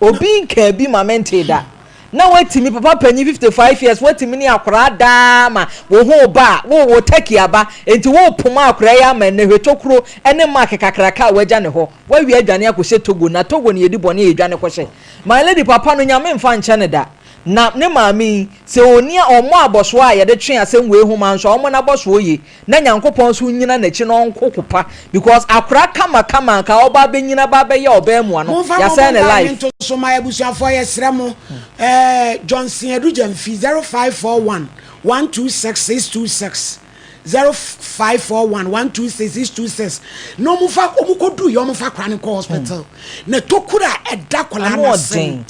Obi nkaa bi ma mentee da. Na woatumi, papa panyin, fifty five years, woatumi ne akwadaa daa ma wo ho reba a, wowɔ turkey aba, enti worepoma akwadaa yi ama nnɛ, hwɛ tokuro ne mark kakraka a woagya ne hɔ. Woawie adwane akɔhyɛ Togo, na Togo no yɛdi bɔne a yɛdwane kɔhyɛ. My lady, papa no, Nyame mfa nkyɛ no da. Na ne maame yi, sɛ ɔnni a, ɔmmɔ abɔsoɔ a yɛde twe asɛm wei ho ma nso a, ɔmmɔ n'abɔsoɔ yie. na Nyankopɔn nso nnyina n'akyi na ɔnko ko pa because akora kama kama anka ɔba abɛnyina ba abɛyɛ ɔbɛɛmoa no Momfa mo yasɛɛ ne mobile life. nto so ma abusuafoɔ yɛsrɛ mo eh, Johnson Adu Gyamfi, 0541 126626, 0541 126626, na wɔmfa, wɔkɔduruiɛ wɔmfa akwadaa no nkɔ hospital, na tokuro a ɛda akwadaa Ano no ase ɔden. no,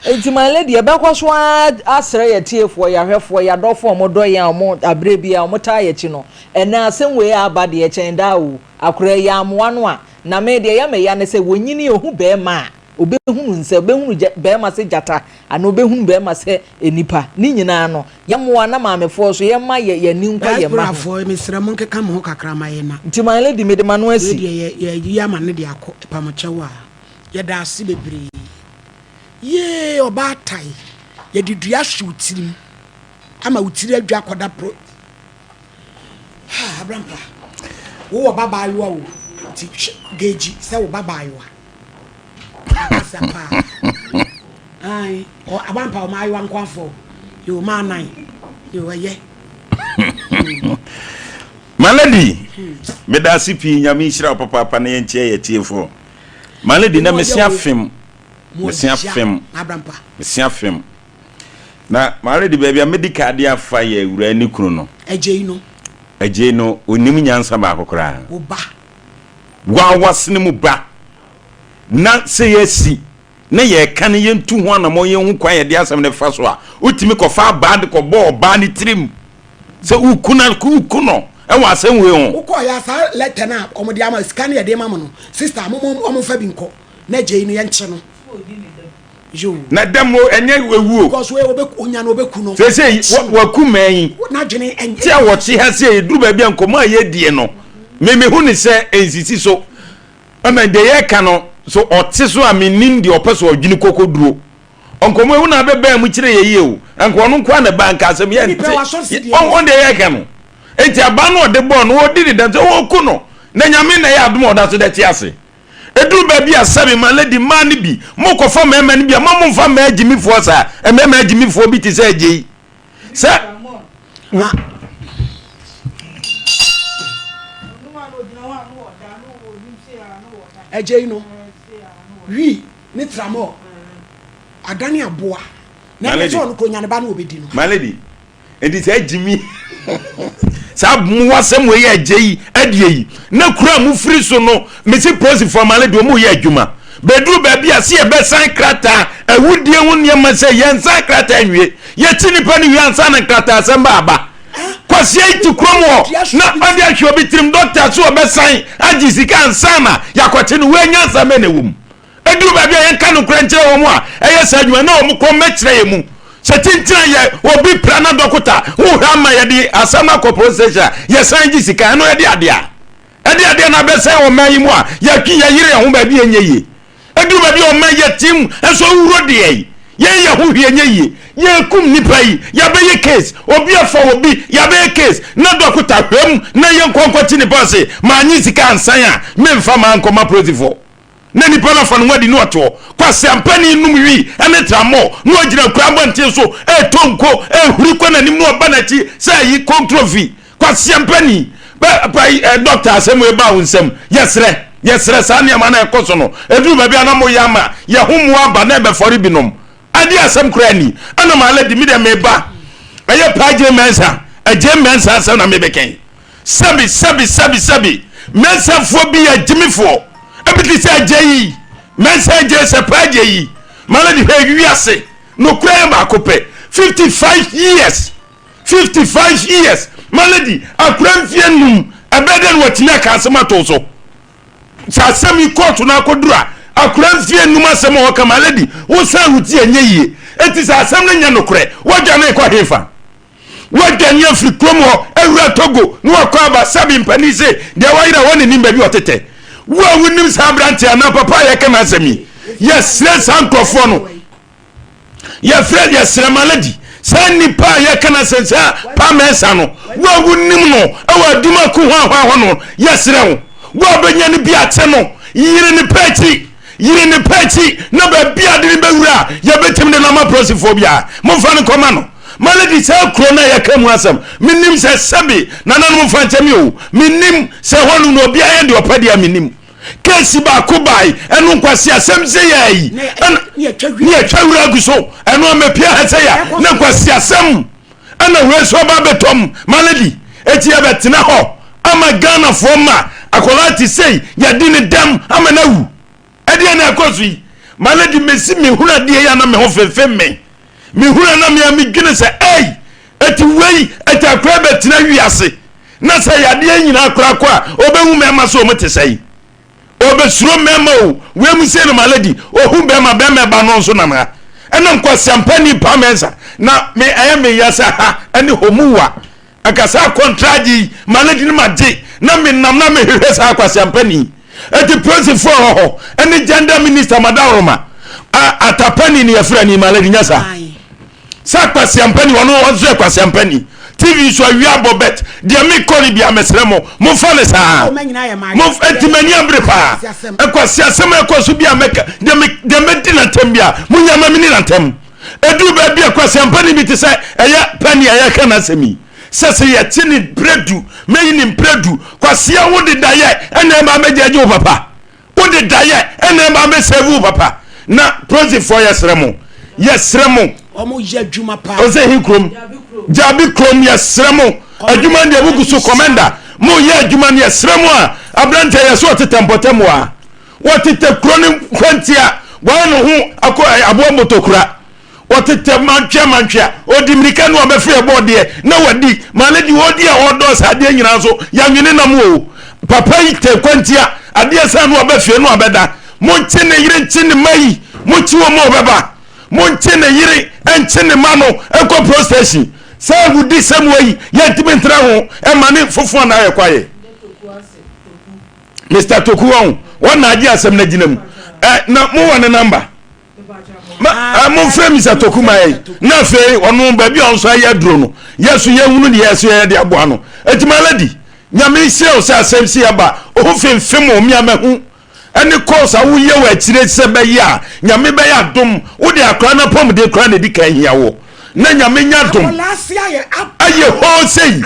Enti my lady yɛbɛkɔ so ara asrɛ yɛn atiefoɔ, yɛn ahwɛfoɔ, yɛn adɔfoɔ a wɔdɔ yɛn a wɔn aberɛ biara wɔtaa yɛn akyi no, ɛnnɛ asɛm wei a aba deɛ ɛkyɛn daa o, akoraa yi ammoa no a, na me deɛ ɛyɛ me ya ne sɛ wɔnyini ɔhu barima a, ɔbɛhunu nsɛ, ɔbɛhunu gya, barima sɛ gyata anaa ɔbɛhunu barima sɛ nnipa. Ne nyinaa no, yɛmmoa na maamefoɔ nso yɛmma yɛ, yɛn ani nkɔ yɛn mma ho. Diasporafoɔ, mesrɛ monkeka mo ho kakra ma yɛn na. Nti my lady mede m'ano asi. Wei deɛ yɛ, yɛayi ama no de akɔ, ɛpamokyɛw a. Yɛda ase bebree. Yee ɔbaa tai yɛde dua ahye wo tirim ama wo tiri adwa akɔda pro ha abrampa wo wɔ ba baayewa o ti geji sɛ wo ba baayewa asa paa ai o abrampa o maayewa nko afɔ yo maa nan yo ɛyɛ maladi hmm. medase pii nyame nhyira wo papaapa na yɛnkyɛ yɛ tiefo Ma no di na mesi afem, mesi afem, mesi afem. Na m'awerɛdi baabi a mɛdi ka de afa yɛ awuraa ne kunu no. Agyei no. Agyei no, ɔnim nyansa baako koraa. Wo ba. Wawas ne mu ba. Na sɛ yɛasi na yɛreka no yɛntu ho anammɔn, yɛnhu kwan yɛde asɛm no fa so a, wotumi kɔfa abaa de kɔbɔ ɔbaa no tirim sɛ woku no, woku no wɔ asɛm wei ho. Wokɔ yɛ a saa lɛtɛ no a wɔde ama, sika no yɛde ma mo no, sista a, momma wɔmfa bi nkɔ na gyei no, yɛnkye no. Yoo. Na dam o, ɛnyɛ awu o. Because wei ɔbɛ, ɔnya no ɔbɛku no. Seesei, waku mmaa yi. N'adwene ɛnyɛ. Te a wɔte ha sei, ɛduru baabi a nkɔmmɔ a yɛredie no, me mehu no sɛ ɛnsisi so. Amen deɛ yɛka no so ɔte so a menim deɛ ɔpɛ so ɔdwene kɔkɔduro ɔnkɔmɔ ehu na abɛbɛn mu kyerɛ yɛ yie o nka ɔno nko na ba nka asɛm yɛ nte ɔn deɛ yɛka no enti aba no ɔde bɔɔ no ɔdi ne dɛm sɛ ɔku no na nyame na ɛyɛ adom a ɔda so dɛ te ase ɛduru baabi a sɛbe ma lady mmaa no bi mokɔfa mmarima no bi a ma momfa mmaa agyimifoɔ saa mmarima agyimifoɔ bi te sɛ agyei sɛ na agya yi no wi ne tramɔ adane aboa na ɛnyɛ sɛ ɔno kuro nya ne ba na ɔbɛdi no malady nti saa gyimi saa mmoa sɛ mo yɛ agya yi adeɛ yi na kura mo firi so no Mese polisifoɔ ama no deɛ wɔn reyɛ adwuma. Bɛduru baabi a se yɛbɛsan krataa awudie ho nneɛma sɛ yɛnsan krataa nwie. Yɛkyi nipa no wie ansa na nkrataa asɛm ba aba. Kwasia yi te kurom hɔ na ɔde ahwɛ obi tirim dɔkta so ɔbɛsan agye sika ansa na yɛakɔkye no. Wei nyansa bɛn na ɛwɔ mu? Ɛduru baabi a yɛnka nokorɛ nkyerɛ wɔn a ɛyɛ saa adwuma na wɔn kɔ mmɛkyerɛ yɛn mu. Sɛ kyinkyin yɛ obi pira na dɔkota ho hwɛ ama yɛde asɛm no akɔ polisi station a yɛsan gye sika ɛno yɛde adeɛ a. Ɛde adeɛ no abɛsɛe ɔman yi mu a yɛtwe yɛn yere yɛn ho baabi a ɛnyɛ yie. Ɛduru baabi a ɔman yɛ team nso awuro deɛ yi. Yɛn yɛ ho hwee ɛnyɛ yie. Yɛrekum nnipa yi, yɛabɛyɛ case. Obi afa obi, yɛabɛyɛ case. Na dɔkota hwɛm na yɛnkɔ nkɔte nnipa ase. Mannye sika ansan a, memfa m'ankɔma polisifoɔ. Na nnipa no afa ne ho adi na wɔte hɔ, kwaseampani nom wii ne trammɔɔ, na wɔgyina akuraa mmɔnten so retɔ nko, rehuri kɔ n'anim na wɔba n'akyi sɛ ayi kontrofi. Kwaseampani, Bɛ, pa, eh, dɔkta, asɛm wei baa wo nsam? Yɛsrɛ, yɛsrɛ, saa nneɛma no a ɛkɔ so no, ɛduru baabi a na moyɛ ama yɛn ho mmoa aba na ɛbɛfɔre binom. Adeɛ a asɛm koraa nni. Ɛna m'alady, me deɛ meba, ɛyɛ paa Jane Mensah, eh, Jane Mensah asɛm na mebɛka yi. Sɛbi, sɛbi, sɛbi, sɛbi, mɛnsafoɔ bi yɛ gyimifoɔ. Ebi te sɛ agya yi, mɛnsa agya sɛ paa agya yi. Mala de hwɛ wiase, nokura yɛ baako pɛ. Fifty five years, fifty five years, mala di akura mfie num. Ɛbɛyɛ dɛ na watumi aka asɛm ato so. Sɛ asɛm yi kɔɔto no akɔduru a, akura mfie num asɛm a wɔka mala di, wosan wuti ɛnyɛ yie. Eti sɛ asɛm no nyɛ nokorɛ, wɔdwane kɔ hefa? Wɔadwane afiri kurom hɔ awura Togo na wɔakɔ aba Sabi mpanin se deɛ wayera hɔ na nim baabi a ɔtetɛ. Wo a wonim saa aberanteɛ anaa papa a yɛreka n'asɛm yi, yɛsrɛ saa nkurɔfoɔ no, yɛfrɛ, yɛsrɛ Malady, saa nnipa a yɛreka n'asɛm, saa Pa Mensah no, wo a wonim no wɔ Adwuma Ko Hwanhwan hɔ no, yɛsrɛ wo, wo a bɛnya no bi ate no, yere ne pɛ akyi. yiri ne pɛ akyi na baabi a de ne bɛwura a yɛbɛtumi de no ama polisifoɔ biara momfa no kɔma no maladi saa kuro no a yɛka mu asɛm menim sɛ sɛbe nananom fa nkyɛ me o menim sɛ hɔ no no obiara yɛ deɛ ɔpɛ deɛ a menim kesi baako bae ɛno nkwasi asɛm sɛ yɛ yi ne yɛtwa wura agu so ɛno amapia ha sɛ yɛ ne nkwasi asɛm ɛna wei nso aba abɛtɔ mu malady eti yɛbɛtena hɔ ama ghanafoɔ ma akwadaa te sei yɛde ne dɛm ama no awu ɛdeɛ na ɛkɔ so yi malady mesi mehunu adeɛ yi ana me ho fenfe me mehunu ana me a medwene sɛ ei eti wei eti akwadaa bɛtena wiase na sɛ yadeɛ nyinaa koraa kɔ a ɔbɛhu mɛma so ɔmo te sɛ yi ɔbɛsuro mmarima o wei mu sei no maladi ɔhu bɛrima bɛrima ba no nso nam ha ɛnam kwaseampa ni paa mɛnsa na me ɛyɛ me ya sɛ ha ɛne homuwa ɛka saa kɔntragye yi maladi no magye na me nam na mehwehwɛ saa kwaseampa ni ɛti polisifoɔ ɛwɔ hɔ ɛne gender minister madaworoma atapani ne yɛfrɛ ne maladi nya saa Sɛ kwasiampa ni ɔno ɔnso yɛ kwasiampa ni TV so awia abɔ bet deɛ me kɔ no bia mesrɛ mo mo fa no saa mo eti m'ani abere paa ɛkwasiasɛm ɛkɔ so bia mɛka deɛ me deɛ mɛdi nantɛm bia mo nya ma meni nantɛm ɛduru baabi a kwasiampa ni bi te sɛ ɛyɛ pɛni ɛyɛ ka n'asɛm yi sɛ sɛ yɛte ne brɛdu mɛyi ne mprɛdu kwasia wo dedayɛ ɛna ɛma mɛgya agye wo papa Wode daeɛ ɛna ɛba bɛ save wo papa na proxy foɔ yɛ srɛ mo yɛ srɛ mo Ɔmo yɛ adwuma paa. Ɔsɛ he krom gyabi krom yɛ srɛ mo adwuma deɛ mo guso commander mo yɛ adwuma no yɛ srɛ mo a abranteɛ yɛ so ɔtetɛ mpɔtɛ mo a wɔtetɛ kro no hwantia wɔayɛ no ho akɔ aboa motokura. ɔtetɛ mantwea mantwea ɔdi mmirika ne ɔbɛfiri ɛbɔ ɔdeɛ na wadi ma ne deɛ ɔdi a ɔdɔ saa adeɛ nyinaa nso yɛnwene nam o papa yi tɛ kwantia adeɛ saa ne ɔbɛfie ne ɔbɛda monkye ne yere nkye ne ma yi mokye wɔ mu ɔbɛba monkye ne yere nkye ne ma no nkɔ prostation sɛ wodi sɛm wɔ yi yɛntumi ntra ho ɛma ne fofoɔ na ayɛ kwaeɛ Mr. Toku wɔn wɔn na agye asɛm no agyina mu eh, na mowɔ ne namba ma momfrɛ mi sɛ toku mayɛ na afei ɔno baabi a ɔnso ayɛ aduro no yɛ so yɛhunu ne yɛsɛ yɛde aboa no ɛti maladi nyame hyɛ wo sɛ asɛm si ɛba ɔho femfem o meamahu ɛne kɔs a woyɛ wɔ akyire sɛ bɛyɛ a nyame bɛyɛ adom wode akora no apɔmuden kora na ɛdi ka hia wɔ na nyame nya dom ayɛ hɔ sei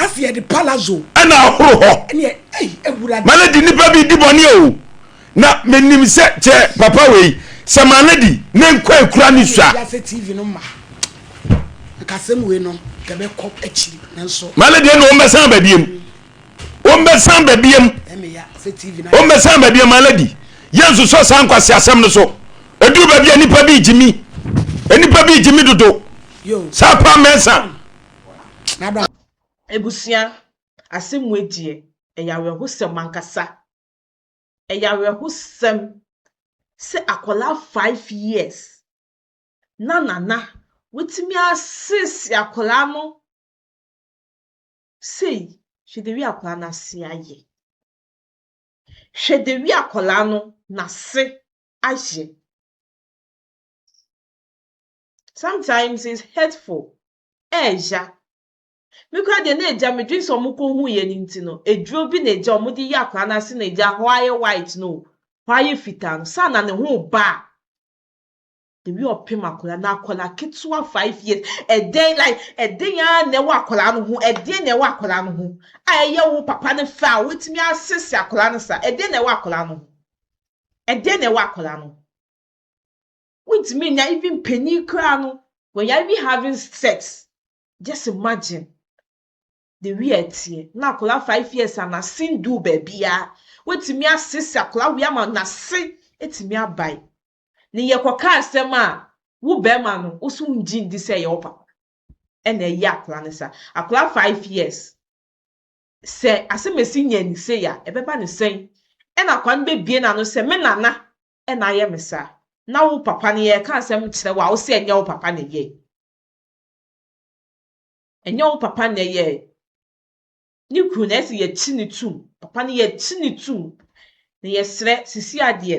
ɛna ahoro hɔ maladi nnipa bi di bɔne o Na menim sɛ kyɛ papa wei sɛ ma no di ne nkwa ekura ne sua. Wiase TV no ma nkasɛm wei no yɛbɛ kɔ akyiri nanso. Ma no deɛ na wɔn bɛsan ba biem wɔn bɛsan ba biem wɔn bɛsan ba biem ma no di yɛn nsosɔ saa nkwasi asɛm no so eduru baabi a nipa bi gyimi nipa bi gyimi dodo saa paa mɛnsa. Ebusua asɛm wei deɛ ɛyɛ awerɛhosɛm ankasa. ɛyɛ awerɛhosɛm sɛ akwadaa five years na nana watumi asese akwadaa no sei. Hwɛ the way akwadaa no ase ayɛ. Hwɛ the way akwadaa no n'ase ayɛ. Sometimes it's hurtful. Ɛɛya. Me koraa deɛ na agya me dwen sɛ ɔmo kɔ hu yɛ no nti no aduro bi na agya ɔmo de yɛ akwadaa no ase na agya hɔ ayɛ white no o hɔ ayɛ fitaa no saa na ne ho ba a the way ɔpem akwadaa na akwadaa ketewa five years ɛdɛn like ɛdɛn ara na ɛwɔ akwadaa no ho ɛdɛn na ɛwɔ akwadaa no ho a ɛyɛ wo papa no fɛ a wotumi asese akwadaa no saa ɛdɛn na ɛwɔ akwadaa no ho ɛdɛn na ɛwɔ akwadaa no ho wontumi nya even panyin koraa no when you are even having sex Just imagine the way a ɛteɛ. Na akwadaa five years a n'ase nduu baabiara. Watumi asese akwadaa wei ama n'ase atumi abae. Ne yɛkɔka asɛm a, wo barima no, wo so wongye ndi sɛ ɛyɛ wo papa ɛna ɛyɛ akwadaa no saa. Akwadaa five years, sɛ asɛm a ɛsi nya ni sei a, ɛbɛba no sɛn? Ɛna akwadaa no bɛbue n'ano sɛ, me nana ɛna ayɛ me saa. Na wo papa no, yɛreka asɛm kyerɛ wo a, wo se ɛnyɛ wo papa na ɛyɛe. Ɛnyɛ wo papa na ɛyɛɛ ne kunu na ɛsɛ yɛkyi ne tum papa no yɛkyi ne tum na yɛsrɛ sisi adeɛ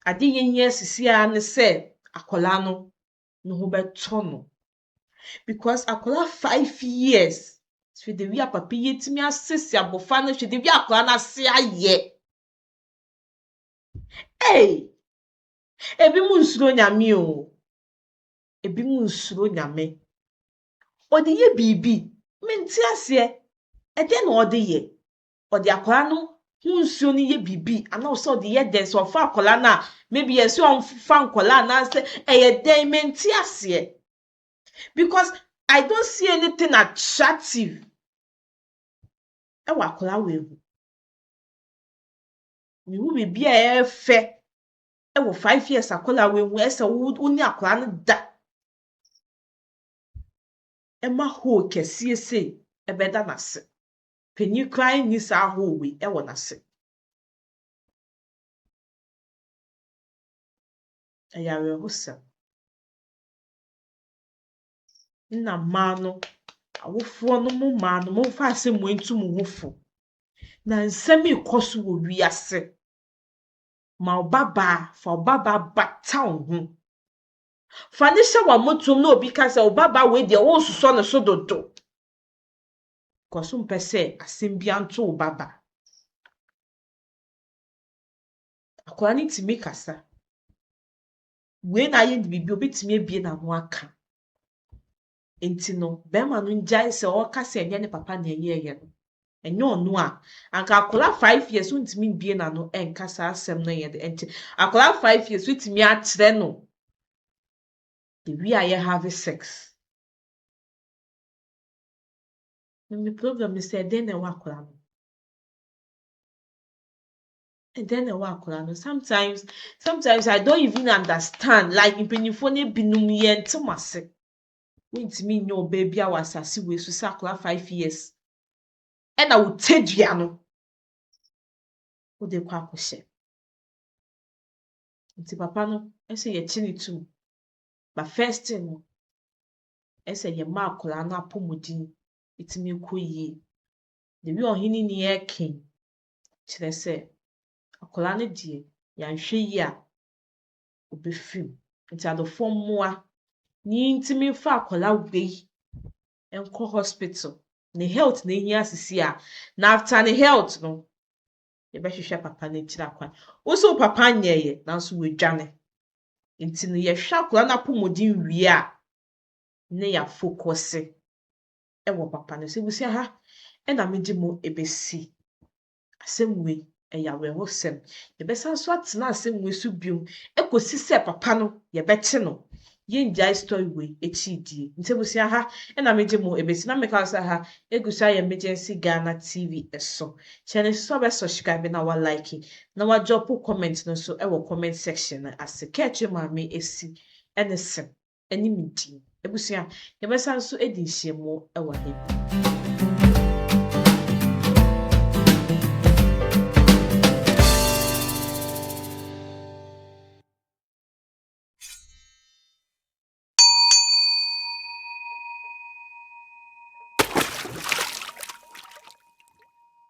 adeɛ yɛhia sisi a ne sɛ akwadaa no ne ho bɛtɔ no because akwadaa five years hwɛ de wi a papa yi atumi asisi abɔfra no hwɛ de wi akwadaa no ase ayɛ ee ebi mu nsuro nyame o ebinom nsuro Nyame. Ɔde yɛ biribi, mente aseɛ, ɛdɛn na ɔde yɛ? Ɔde akwadaa no ho nsuo no yɛ biribi anaa ɔsɛ ɔde yɛ dɛn? Sɛ ɔfa akwadaa no a, maybe ɛsɛ ɔmfa nkwadaa anaasɛ ɛyɛ dɛn? Mente aseɛ because I don't see anything attractive ɛwɔ akwadaa wei ho. Mehu biribi a ɛyɛ fɛ wɔ five years akwadaa wei ho ɛsɛ wo wo ne akwadaa no da ɛma hoo kɛseɛ sei ɛbɛda n'ase panyin koraa nni saa hoo wei ɛwɔ n'ase ɛyɛ awerɛhosɛm na mmaa no awofoɔ no mo mmaa no momfa ase mo ntu mo ho fo na nsɛm yi kɔ so wɔ wiase Ma wo babaa, fa wo babaa bata wo ho. Fa no hyɛ w'amotom na obi ka sɛ, wo babaa wei deɛ woresosɔ ne so dodo. Because wompɛ sɛ asɛm biara nto wo babaa. Akwadaa no tumi kasa. Wei na ayɛ no biribi, obɛtumi abue n'ano aka. Enti no bɛɛma no ngyae sɛ ɔɔka sɛ nyɛ ne papa na ɛyɛɛyɛ no. Ɛnyɛ ɔno a, anka akɔla five years ontumi mbue n'ano ɛnka saa asɛm no yɛ dɛ nkyɛ. Akɔla five years wetumi akyerɛ no the way a yɛ have sex. Na me problem ne sɛ ɛdɛn na ɛwɔ akɔla no ho? Ɛdɛn na ɛwɔ akɔla no ho? Sometimes, sometimes I don't even understand like mpanyinfoɔ no binom yɛnte mo ase. Wontumi nyɛ ɔbaa biara wɔ asase wei so sɛ akwadaa five years ɛna wo tadua no wode kɔ akɔhyɛ. Nti papa no ɛsɛ yɛkye ne tum. But first thing no, ɛsɛ yɛma akwadaa no apɔmuden ɛtumi kɔ yie. The way ɔhene ni ɛɛke yi kyerɛ sɛ akwadaa no deɛ yɛanhwɛ yie a ɔbɛfiri mu. Nti adɔfoɔ mmoa ne ntumi mfa akwadaa wei nkɔ hospital. Ne health na ɛhia seesei a, na after ne health no, yɛbɛhwehwɛ papa no akyiri akwan. Wo nso wo papa nyɛeɛ nanso wadwane. Nti no yɛhwɛ akwadaa no apɔmuden wie a, na yɛafokɔse wɔ papa no so. Abusua ha na mede mo bɛsi. Asɛm wei, ɛyɛ awerɛhosɛm. Yɛbɛsan so atena asɛm wei so bio ɛkɔsi sɛ papa no yɛbɛkye no. Yɛngyae story wei akyiri die. Nti abusua ha na megye mo ɛbɛsi. Na meka sɛ ha ɛgu so ayɛ Emergency Ghana TV so. Hyɛ no nso sɛ wobɛ subscribe na wa like na wa drop comment no nso ɛwɔ comment section no ase. Kɛ akyire maame ɛsi ɛne se. ne me din. Abusua, yɛbɛsan so adi nhyiamu wɔ he?